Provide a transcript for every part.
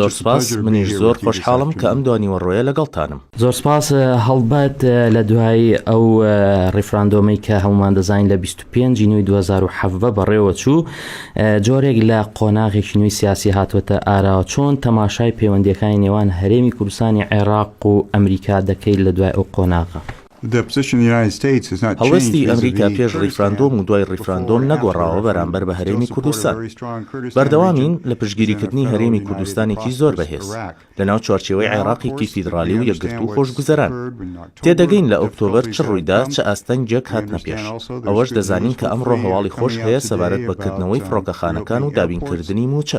زۆر سپاس منیش زۆر خۆشحاڵم کە ئەم دوانیوەڕۆیە لەگەڵتانم. زۆر سپاس هەڵبەت لە دوای ئەو ڕیفراندۆمەی کە هەمومان دەزانین لە 25 جینوی 2017 بەڕێوە چوو جۆرێک لە قۆناغێکی نوێی سیاسی هاتووەتە ئاراوە چۆن تەماشای پەیوەندیەکانی نێوان هەرێمی کوردستانی عێراق و ئەمریکا دەکەیت لە دوای ئەو قۆناغە هەڵوێستی ئەمریکا پێش ڕیفراندۆم و دوای ڕیفراندۆم نەگۆڕاوە بەرامبەر بە هەرێمی کوردستان. بەردەوامین لە پشتگیریکردنی هەرێمی کوردستانێکی زۆر بەهێز، لەناو چوارچێوەی عێراقێکی فیدڕالی و یەکگرتوو و خۆشگوزەران. تێدەگەین لە ئۆکتۆبەر چ ڕوویدا، چ ئاستەنگێک هاتنە پێش. ئەوەش دەزانین کە ئەمڕۆ هەواڵی خۆش هەیە سەبارەت بە کردنەوەی فڕۆکەخانەکان و دابینکردنی مووچە.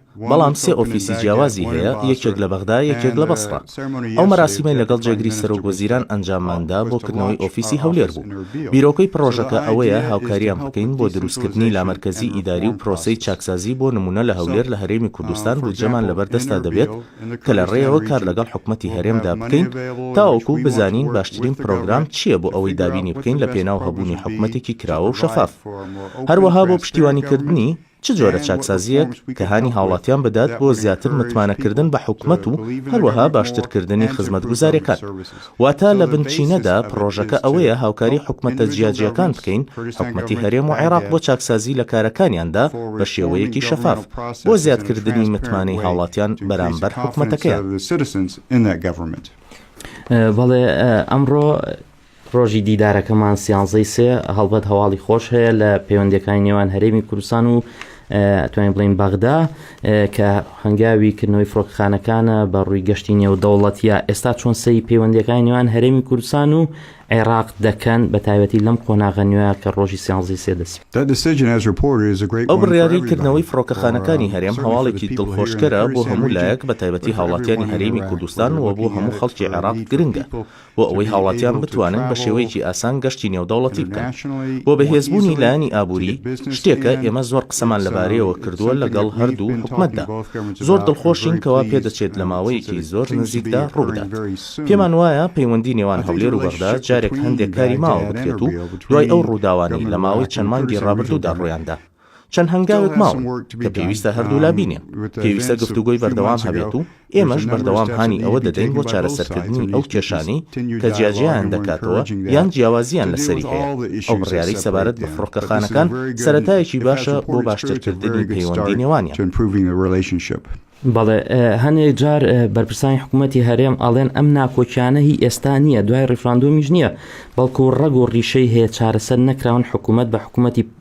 بەڵام سێ ئۆفیسی جیاوازی هەیە، یەکێک لە بەغدا، یەکێک لە بەسڕە. ئەو مەراسیمەی لەگەڵ جێگری سەرۆک وەزیران ئەنجامماندا بۆ کردنەوەی ئۆفیسی هەولێر بوو. بیرۆکەی پڕۆژەکە ئەوەیە هاوکارییان بکەین بۆ دروستکردنی لامەرکەزی ئیداری و پرۆسەی چاکسازی بۆ نموونە لە هەولێر لە هەرێمی کوردستان بودجەمان لەبەر دەستدا دەبێت کە لە ڕێیەوە کار لەگەڵ حکومەتی هەرێمدا بکەین تاوەکو بزانین باشترین پرۆگرام چییە بۆ ئەوەی دابینی بکەین لە پێناو هەبوونی حکومەتێکی کراوە و شەفاف هەروەها بۆ پشتیوانیکردنی چ جۆرە چاکسازییەک کە هانی هاوڵاتیان بدات بۆ زیاتر متمانەکردن بە حکومەت و هەروەها باشترکردنی خزمەتگوزاریەکان. واتە لە بنچینەدا پڕۆژەکە ئەوەیە هاوکاری حکومەتە جیاجیاکان بکەین، حکومەتی هەرێم و عێراق بۆ چاکسازی لە کارەکانیاندا بە شێوەیەکی شەفاف، بۆ زیادکردنی متمانەی هاوڵاتیان بەرامبەر حکومەتەکەیان. بەڵێ ئەمڕۆ ڕۆژی دیدارەکەمان سیانزەی سێ هەڵبەت هەواڵی خۆش هەیە لە پەیوەندەکانی نێوان هەرێمی کوردستان و توانین بڵین بەغدا کە هەنگاوی کردنەوەی فڕۆکخانەکانە بە ڕووی گەشتی نێودەوڵەتیە ئێستا چۆن سەی پەیوەندەکانی نێوان هەرێمی کوردستان و عێراق دەکەن بە تایبەتی لەم قۆناغە نوێ کە ڕۆژی سیانزی سێ دەسی ئەو بڕیاری کردنەوەی فڕۆکەخانەکانی هەرێم هەواڵێکی دڵخۆشکەرە بۆ هەموو لایەک بە تایبەتی هاوڵاتیانی هەرێمی کوردستان و بۆ هەموو خەڵکی عێراق گرنگە بۆ ئەوەی هاوڵاتیان بتوانن بە شێوەیەکی ئاسان گەشتی نێودەوڵەتی بکەن بۆ بەهێزبوونی لایەنی ئابووری، شتێکە ئێمە زۆر قسەمان لەبارەیەوە کردووە لەگەڵ هەردوو حکومەتدا، زۆر دڵخۆشین کەوا پێدەچێت لە ماوەیەکی زۆر نزیکدا ڕووبدات. پێمان وایە پەیوەندی نێوان هەولێر و بەغدا جارێک هەندێک کاری ماوە بکرێت و دوای ئەو ڕووداوانەی لە ماوەی چەند مانگی ڕابردوودا ڕوویاندا، چەند هەنگاوێک ماون کە پێویستە هەردوولا بینێن، پێویستە گفتوگۆی بەردەوام هەبێت و ئێمەش بەردەوام هانی ئەوە دەدەین بۆ چارەسەرکردنی ئەو کێشانەی کە جیاجیایان دەکاتەوە یان جیاوازییان لەسەری هەیە، ئەو بڕیارەی سەبارەت بە فڕۆکەخانەکان سەرەتایەکی باشە بۆ باشترکردنی پەیوەندی نێوانیان. بەڵێ، هەنێک جار بەرپرسانی حکوومەتی هەرێم ئەڵێن ئەم ناکۆکیانە هی ئێستا نییە، دوای ڕیفراندۆمیش نییە، بەڵکو ڕەگ و ڕیشەی هەیە چارەسەر نەکراون، حکوومەت بە حکوومەتی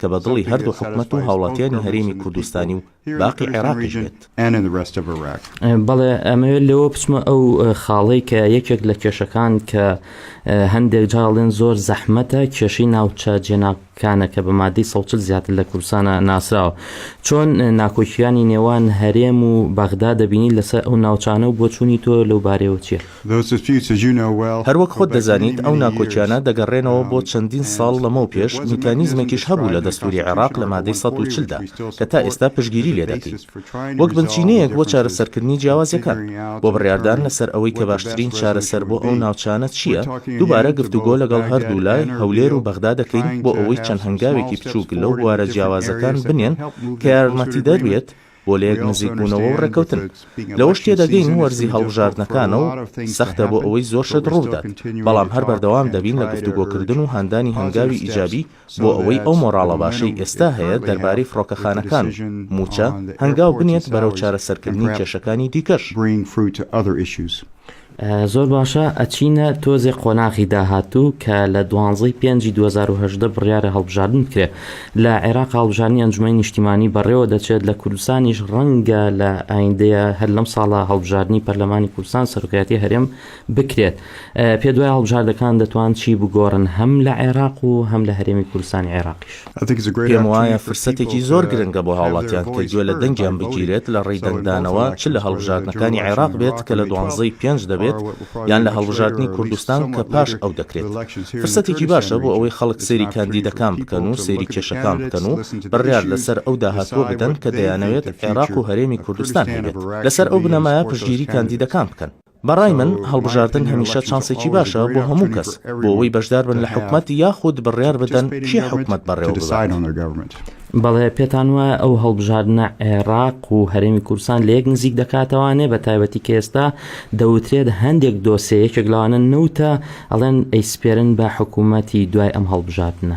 کە بە دڵی هەردوو حکومەت و هاوڵاتیانی هەرێمی کوردستانی و باقی عێراقیش بێت. بەڵێ ئەمەوێت لێوە بچمە ئەو خاڵەی کە یەکێک لە کێشەکان کە هەندێک جار ئەڵێن زۆر زەحمەتە کێشەی ناوچە جێناکانە کە بە مادەی سەد و چل زیاتر لە کوردستانا ناسراوە چۆن ناکۆکییانی نێوان هەرێم و بەغدا دەبینی لەسەر ئەو ناوچانە و بۆچوونی تۆ لەو بارەیەوە چییە؟ هەروەک خۆت دەزانیت ئەو ناکۆکیانە دەگەڕێنەوە بۆ چەندین ساڵ لەمەو پێش، میکانیزمێکیش هەبوو لە دەستوری عێراق لە مادەی سەد و چل دا کە تا ئێستا پشتگیری لێ دەکەین وەک بنچینەیەک بۆ چارەسەرکردنی جیاوازیەکان بۆ بڕیاردان لەسەر ئەوەی کە باشترین چارەسەر بۆ ئەو ناوچانە چییە، دووبارە گفتوگۆ لەگەڵ هەردوو لای، هەولێر و بەغدا، دەکەین بۆ ئەوەی چەند هەنگاوێکی بچووک لەو بوارە جیاوازەکان بنێن کە یارمەتیدەر بێت، بۆ لە یەک نزیک بوونەوە و ڕێکەوتن. لەوەش تێدەگەین وەرزی هەڵبژاردنەکانە و سەختە بۆ ئەوەی زۆر شت ڕووبدات، بەڵام هەر بەردەوام دەبین لە گفتوگۆکردن و هاندانی هەنگاوی ئیجابی بۆ ئەوەی ئەو مۆراڵە باشەی ئێستا هەیە دەربارەی فڕۆکەخانەکان و مووچە، هەنگاو بنێت بەرەو چارەسەرکردنی کێشەکانی دیکەش. زۆر باشە ئەچینە تۆزێ قۆناغی داهاتوو کە لە دوانزەی پێنجی دوو هەزار و هەژدە بڕیارە هەڵبژاردن بکرێت لە عێراق هەڵبژاردنی ئەنجومەنی نیشتیمانی بەڕێوە دەچێت لە کوردستانیش ڕەنگە لە ئایندەیە هەر لەم ساڵە هەڵبژاردنی پەرلەمانی کوردستان سەرۆکایەتی هەرێم بکرێت پێ دوای هەڵبژاردەکان دەتوان چی بگۆڕن هەم لە عێراق و هەم لە هەرێمی کوردستانی عێراقیش. پێموایە فرسەتێکی زۆر گرنگە بۆ هاوڵاتیان کە گوێ لە دەنگیان بگیرێت لە ڕێی دەنگدانەوە چ لە هەڵبژاردنەکانی عێراق بێت کە لە دوانزە ی پێنج دەبێت یان لە هەڵبژاردنی کوردستان کە پاش ئەو دەکرێت. فرسەتێکی باشە بۆ ئەوەی خەڵک سەیری کاندیدەکان بکەن و سەیری کێشەکان بکەن و بڕیار لەسەر ئەو داهاتووە بدەن کە دەیانەوێت عێراق و هەرێمی کوردستان هەبێت. لەسەر ئەو بنەمایە پشتگیری کاندیدەکان بکەن. بە ڕای من هەڵبژاردن هەمیشە چانسێکی باشە بۆ هەموو کەس بۆ ئەوەی بەشدار بن لە حکومەت یاخود بڕیار بدەن کێ حکومەت بەڕێوە ببات. بەڵێ پێتان وایە ئەو هەڵبژاردنە عێراق و هەرێمی کوردستان لە یەک نزیک دەکاتەوانێ بە تایبەتی کە ئێستا دەوترێت هەندێک دۆسێ یەکێک لەوانە نەوتە ئەڵێن ئەیسپێرن بە حکومەتی دوای ئەم هەڵبژاردنە.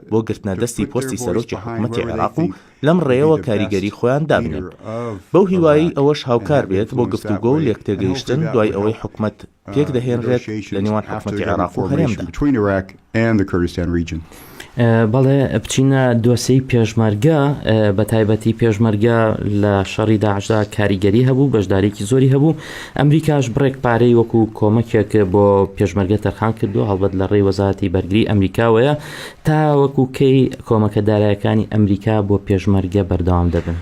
بۆ گرتنە دەستی پۆستی سەرۆکی حکومەتی عێراق و لەم ڕێیەوە کاریگەری خۆیان دابنێن. بەو هیوایەی ئەوەش هاوکار بێت بۆ گفتوگۆ و لێکتێگەیشتن دوای ئەوەی حکومەت پێک دەهێنرێت لە نێوان حکومەتی عێراق و هەرێمدا. بەڵێ بچینە دۆسێی پێشمەرگە، بەتایبەتی پێشمەرگە لە شەڕی داعشدا کاریگەری هەبوو، بەشدارێکی زۆری هەبوو، ئەمریکاش بڕێک پارەی وەکو کۆمەکێک بۆ پێشمەرگە تەرخان کردووە، هەڵبەت لە ڕێی وەزارەتی بەرگری ئەمریکاوەیە، تاوەکو کەی کۆمەکە دارایەکانی ئەمریکا بۆ پێشمەرگە بەردەوام دەبن.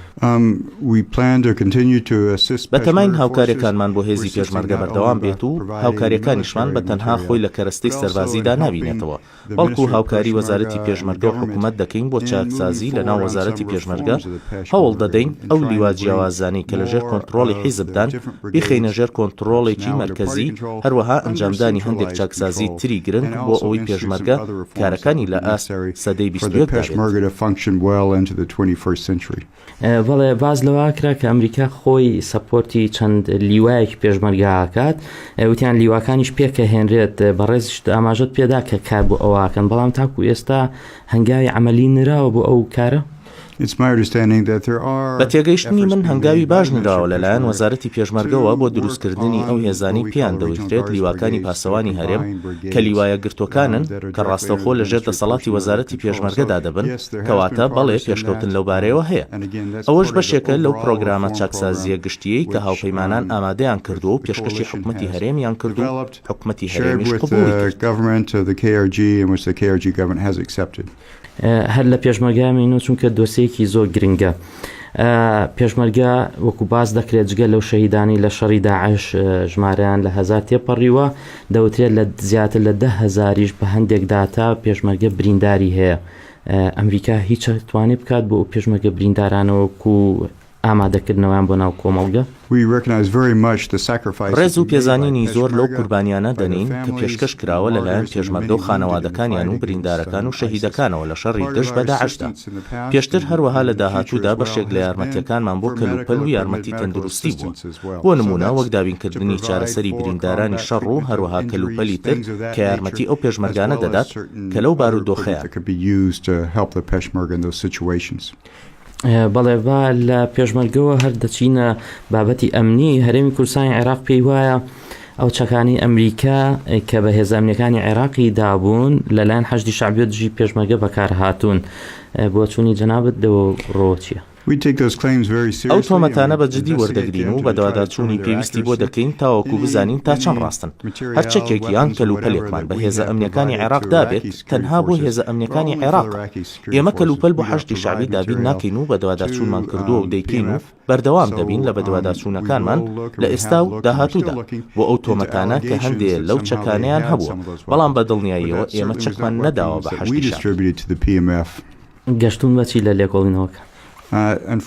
بەتەماین هاوکاریەکانمان بۆ هێزی پێشمەرگە بەردەوام بێت و هاوکاریەکانیشمان بە تەنها خۆی لە کەرەستەی سەربازیدا نابینێتەوە، بەڵکو هاوکاری وەزارەتی پێشمەرگە و حکومەت دەکەین بۆ چاکسازی لەناو وەزارەتی پێشمەرگە، هەوڵ دەدەین ئەو لیوا جیاوازانەی کە لەژێر کۆنتڕۆڵی حیزبدان بیخەینە ژێر کۆنتڕۆڵێکی مەرکەزی، هەروەها ئەنجامدانی هەندێک چاکسازی تری گرنگ بۆ ئەوەی پێشمەرگە کارەکانی لە ئاست سەدەی بیست و یەکدا بێت. بەڵێ باز لەوە کرا کە ئەمریکا خۆی سەپۆرتی چەند لیوایەکی پێشمەرگاکات وتیان لیواکانیش پێکە هێنرێت بەڕێزیشت ئاماژت پێدا کە کار بۆ ئەوواکەن بەڵام تاکو ئێستا هەنگاوی عملی نراوە بۆ ئەو کارە بە تێگەیشتنی من هەنگاوی باش نراوە لەلایەن وەزارەتی پێشمەرگەوە بۆ دروستکردنی ئەو هێزانەی پێیان دەوترێت لیواکانی پاسەوانی هەرێم کە لیوایە گرتوەکانن کە ڕاستەوخۆ لە ژێر دەسەڵاتی وەزارەتی پێشمەرگەدا دەبن، کەواتە بەڵێ پێشکەوتن لەو بارەیەوە هەیە. ئەوەش بەشێکە لەو پرۆگرامە چاکسازییە گشتییەی کە هاوپەیمانان ئامادەیان کردووە و پێشکەشی حکومەتی هەرێمیان کرد و حکومەتی هەرێمیش قبوڵی کرد. هەر لە پێشمەرگە مینوو چونکە دۆسێیەکی زۆر گرنگە. پێشمەرگە وەکو باس دەکرێت جگە لەو شەهیدانەی لە شەڕی داعش ژمارەیان لە هەزار تێپەڕیوە، دەوترێت لە زیاتر لە دە هەزاریش بە هەندێک داتا پێشمەرگە برینداری هەیە. ئەمریکا هیچ ئەتوانێت بکات بۆ ئەو پێشمەرگە بریندارانە وەکو ئامادەکردنەوەیان بۆ ناو کۆمەڵگە؟ ڕێز و پێزانینی زۆر لەو قوربانیانە دەنێین کە پێشکەش کراوە لەلایەن پێشمەرگە و خانەوادەکانیان و بریندارەکان و شەهیدەکانەوە لە شەڕی دژ بە داعشدا. پێشتر هەروەها لە داهاتوودا بەشێک لە یارمەتییەکانمان بۆ کەلوپەل و یارمەتی تەندروستی بووە، بۆ نموونە وەک دابینکردنی چارەسەری بریندارانی شەڕ و هەروەها کەلوپەلی تر کە یارمەتی ئەو پێشمەرگانە دەدات کە لەو بارودۆخەیان. بەڵێ با لە پێشمەرگەوە هەر دەچینە بابەتی ئەمنی، هەرێمی کوردستانی عێراق پێی وایە، ئەو چەکانەی ئەمریکا کە بە هێزە ئەمنیەکانی عێراقی دابوون لەلایەن حەشدی شعبیۆ دژی پێشمەرگە بەکار هاتوون بۆچوونی جەنابەت لەوە ڕۆچیە؟ ئەو تۆمەتانە بە جدی وەردەگرین و بەدواداچوونی پێویستی بۆ دەکەین تاوەکو بزانین تا چەند ڕاستن. هەر چەکێک یان کەلوپەلێکمان بە هێزە ئەمنیەکانی عێراق دابێت تەنها بۆ هێزە ئەمنیەکانی عێراقە. ئێمە کەلوپەل بۆ حەشدی شەعبی دابین ناکەین و بەدواداچوونمان کردووە و دەیکەین و بەردەوام دەبین لە بەدواداچوونەکانمان لە ئێستا و داهاتوودا بۆ ئەو تۆمەتانە کە هەندێ لەو چەکانەیان هەبووە، بەڵام بە دڵنیاییەوە ئێمە چەکمان نەداوە بە حەشدی شەعبی. گەشتوون بە چی لە لێکۆڵینەوەکە؟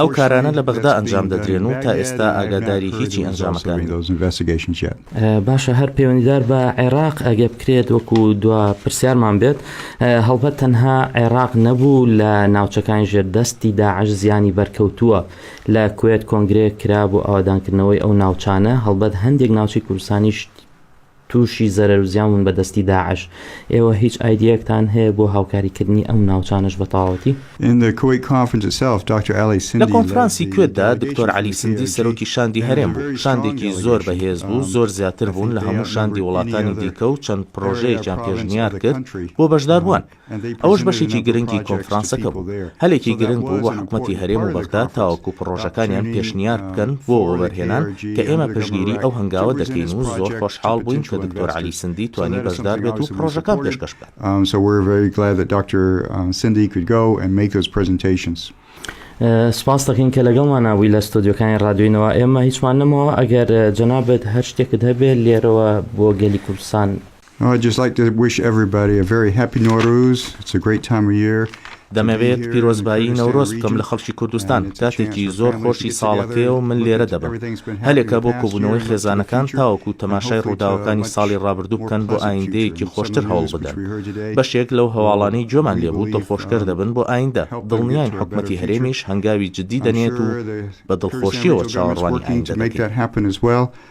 ئەو کارانە لە بەغدا ئەنجام دەدرێن و تا ئێستا ئاگاداری هیچی ئەنجامەکانین. باشە هەر پەیوەندیدار بە عێراق ئەگە بکرێت وەکو دوا پرسیارمان بێت هەڵبەت تەنها عێراق نەبوو لە ناوچەکانی ژێر دەستی داعش زیانی بەرکەوتووە لە کوێت کۆنگرێک کرا بۆ ئاوادانکردنەوەی ئەو ناوچانە هەڵبەت هەندێک ناوچی کوردستانیش تووشی زەرەر و زیانون بە دەستی داعش ئێوە هیچ ئایدیەکتان هەیە بۆ هاوکاریکردنی ئەم ناوچانش بە تەواوەتی لە کۆنفرانسی کوێتدا دکتۆر عەلی سندی سەرۆکی شاندی هەرێم بوو، شاندێکی زۆر بەهێز بوو، زۆر زیاتر بوون لە هەموو شاندی وڵاتانی دیکە و چەند پڕۆژەیەکیان پێشنیار کرد بۆ بەشداربووان. ئەوەش بەشێکی گرنگی کۆنفرانسەکە بوو. هەلێکی گرنگ بوو بۆ حکومەتی هەرێم و بەغدا تاوەکو پڕۆژەکانیان پێشنیار بکەن بۆ وەبەرهێنان کە ئێمە پشتگیری ئەو هەنگاوە دەکەین و زۆر خۆشحاڵ بووین کە دکتۆر عەلی سندی توانی بەشدار بێت و پڕۆژەکان پێشکەش بکات. سپاست دەکەین کە لەگەڵمانە بووی لە ستۆدیۆکانی ڕادیۆی نەوا ئێمە هیچمان نەمەوە ئەگەر جەنابێت هەر شتێکت هەبێت لێرەوە بۆ گەلی کوردستان. دەمەوێت پیرۆزبایی نەورۆز بکەم لە خەڵکی کوردستان، کاتێکی زۆر خۆشی ساڵەکەیە و من لێرە دەبم. هەلێکە بۆ کۆبوونەوەی خێزانەکان تاوەکو تەماشای ڕووداوەکانی ساڵی ڕابردوو بکەن بۆ ئایندەیەکی خۆشتر هەوڵبدەن. بەشێک لەو هەواڵانەی گوێمان لێبوو دڵخۆشکەر دەبن بۆ ئایندە، دڵنیاین حکومەتی هەرێمیش هەنگاوی جددی دەنێت و بە دڵخۆشییەوە چاوەڕوانی ئایندە دەکەین.